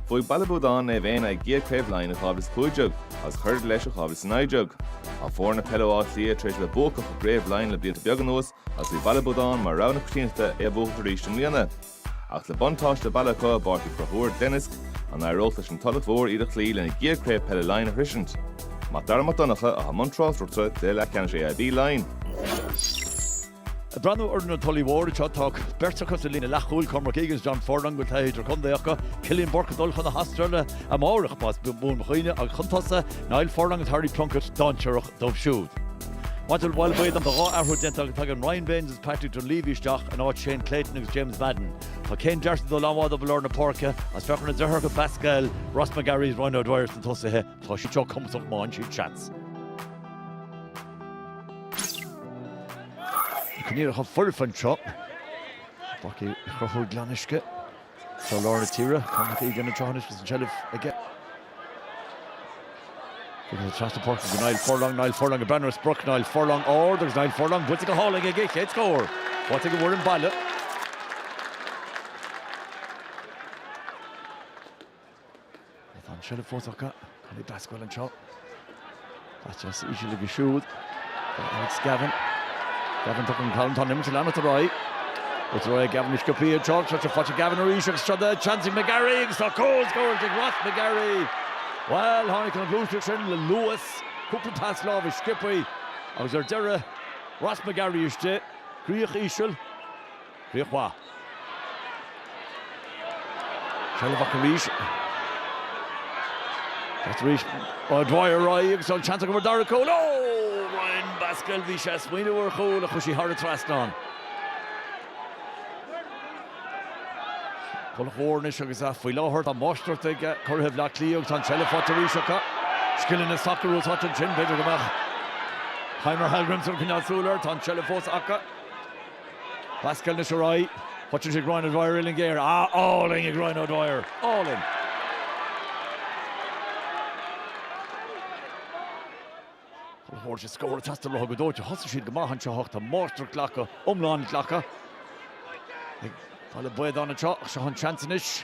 Bhuaigh Baile Buadáin Naomh Éanna a gcéad Chraobh Laighean i 2015 agus chuir leis i 2019. Tá foirne peile ó Áth Cliath tar éis a bheith buacach i gCraobh Laighean le blianta beaga anuas agus bhí Baile Buadáin mar rogha na coitiantachta é a bhuachaint arís i mbliana. Ach le buntáiste baile acu i bPáirc Uí Chonchúir Glenisk, an éireodh leis an Tulach Mhór iad a chloí lena gcéad Craobh Peile Laighean a shroisint? Mac Dara Mac Donncha, atá i mbun tráchtaireachta do chluiche leathcheannais AIB Laighean. Ag breathnú ar fhoireann na Tulaí Móire, tá beirt acu sa líne leathchúil, Cormac Egan is John Furlong, a bhfuil taithí idirchontae acu, Cillian Bourke ag dul chun na hAstráile amárach, más buan mo chuimhne, agus chun tosaigh, Niall Furlong agus Harry Plunkett, dainséarach dóibh siúd. Maidir le Baile Buadáin, tá dhá athrú déanta acu, tagann Ryan Baynes is Patrick Dunleavy isteach in áit Shane Clayton agus James Madden. Tá Céin Darcy ag dul an-mhaith dóibh i lár na páirce is féach ar na deartháireacha Basquel, Ross McGarry is Ryan O'Dwyer sna tosaithe. Tá siad seo cumhachtach má fhaigheann siad seans. Coinníollacha foirfe anseo. Páirc Uí Chonchúir Glenisk i gcroílár na tíre. Cormac Egan anseo anois agus an tseilbh aige. Tugann sé trasna páirce go Niall Furlong. Niall Furlong ag breathnú ar sprioc Niall Furlong ard agus Niall Furlong bainte go hálainn aige. Chéad scór faighte ag an bhfoireann baile. Tá an seilbh fós acu. Collie Basquel anseo. Cic deas íseal aige siúd. Alex Gavin. Gavin tugtar ar an talamh. Tá an imirt ag leanacht ar aghaidh. Is rud é Gavin, sciobtha anseo. Seo sé faighte Gavin arís agus seo é an seans ag McGarry agus tá cúl scóráilte ag Ross McGarry. Bhuel, tháinig an ghluaiseacht sin le luas. Cúpla pas láimhe sciobtha agus ar deireadh Ross McGarry istigh. Críoch íseal. Críoch mhaith. Seilbh acu arís. Thart arís. O'Dwyer ar aghaidh agus an seans acu an dara cúl. Ó! Ryan Basquel, bhí sé ag smaoineamh ar chúl ach chuaigh sí thar an trasnán. Tulach Mhór anois agus faoi láthair tá máistreacht ag curaithe Bhleá Cliath agus tá an tseilbh faighte arís acu. Scileanna sacair úsáidte ansin, b'fhéidir go mbeadh Heimir Hallgrimsson ag coinneáil súil air, tá an tseilbh fós acu. Basquel anois ar aghaidh, fágann sé ag Ryan O'Dwyer, uillinn ghéar, ah, álainn ag Ryan O'Dwyer, álainn. Tulach Mhór, sé scór ag teastáil uathu go dóite, thosaigh siad go maith anseo ach tá máistreacht glactha, iomlán glactha ag Baile Buadáin anseo ach seo an seans anois.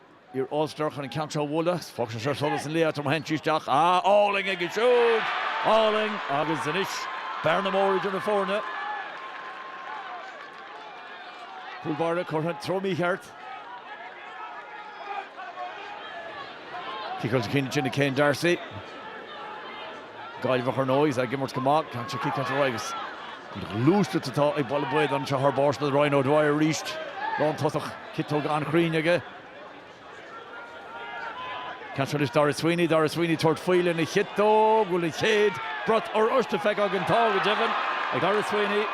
Niall Furlong atá chun an ceann seo a bhualadh, is fágann sé ar sholas an lae agus ritheann sí isteach. Ah, álainn aige siúd! Álainn! Agus anois bearna mór idir na foirne. Cúl báire curtha i dtreo mícheart. Cic os a chionn ansin ag Céin Darcy. Gaillmheach ar ndóigh, is ag imirt go maith. Ceann sé cic deas ar aghaidh agus an ghluaiseacht atá ag Baile Buadáin anseo thar barr, sin é Ryan O'Dwyer arís. Lántosach. Ciotóg an-chruinn aige. Seans anois Daire Sweeney. Daire Sweeney tabhairt faoi lena chiotóg. Bhfuil an chéad bhrat oráiste? feicthe againn. Tá, go deimhin, ag Daire Sweeney.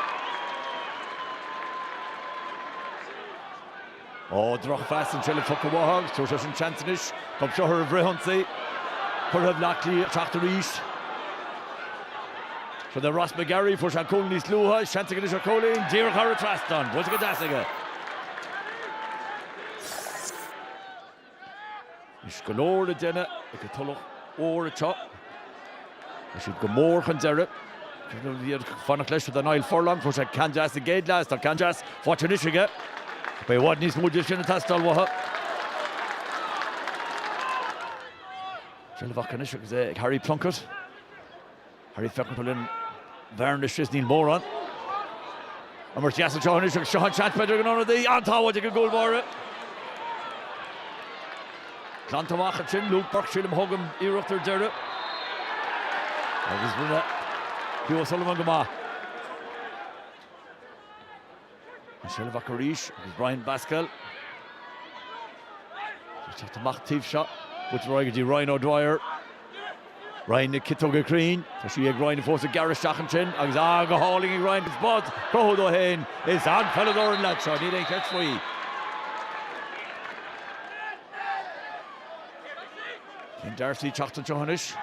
Ó, drochphas anseo ó Fhothart agus tabharfaidh sé sin seans anois. Dóibh seo ar an bhfrithionsaí. Curaidh Bhleá Cliath teacht arís. Fad le Ross McGarry, fuair sé cúl níos luaithe, seans ag an Uiseach Cóilín, díreach thar an trasnán, buailte go deas aige. Anois go leor le déanamh ag an Tulach Mhór anseo. Tá siad go mór chun deiridh. Bhí siad ag fanacht leis do Niall Furlong, fuair sé ceann deas sa gcéad leath is tá ceann deas faighte anois aige. Beidh i bhfad níos mó de sin ag teastáil uathu. Seilbh acu anois agus é ag Harry Plunkett. Harry feiceann cá bhfuil an bhearna istigh is níl mórán, imirt dheas anseo anois agus seo an seans b'fhéidir ag an ionadaí an-sábháil ag an gcúl báire. Glanta amach ansin Luke Burke sílim a thug an iarracht ar deireadh agus rinne Hugh O'Sullivan go maith. An seilbh acu arís agus Brian Basquel ag teacht amach taobh seo. Buailte ar aghaidh go dtí Ryan O'Dwyer. Ryan agus ciotóg an-chruinn. Tá sí ag Ryan fós ag gearradh isteach ansin agus ó go hálainn ag Ryan agus é á chruthú dó féin. Is an-pheileadóir an leaid seo, níl aon cheist faoi. Cian D'Arcy teacht anseo anois.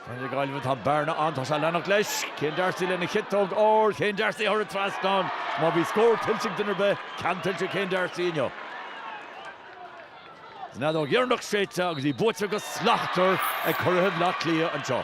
Fear na Gaillimhe tá bearna ann, tá sé leanacht leis. Cian D'Arcy lena chiotóg ó Cian D'Arcy thar an trasnán má bhí scór tuillte ag duine ar bith, ceann tuillte Cian D'Arcy inniu. Is an fheadóg dheireanach séidte agus í buaite go slachtmhar ag Curaidh Bhaile Átha Cliath anseo.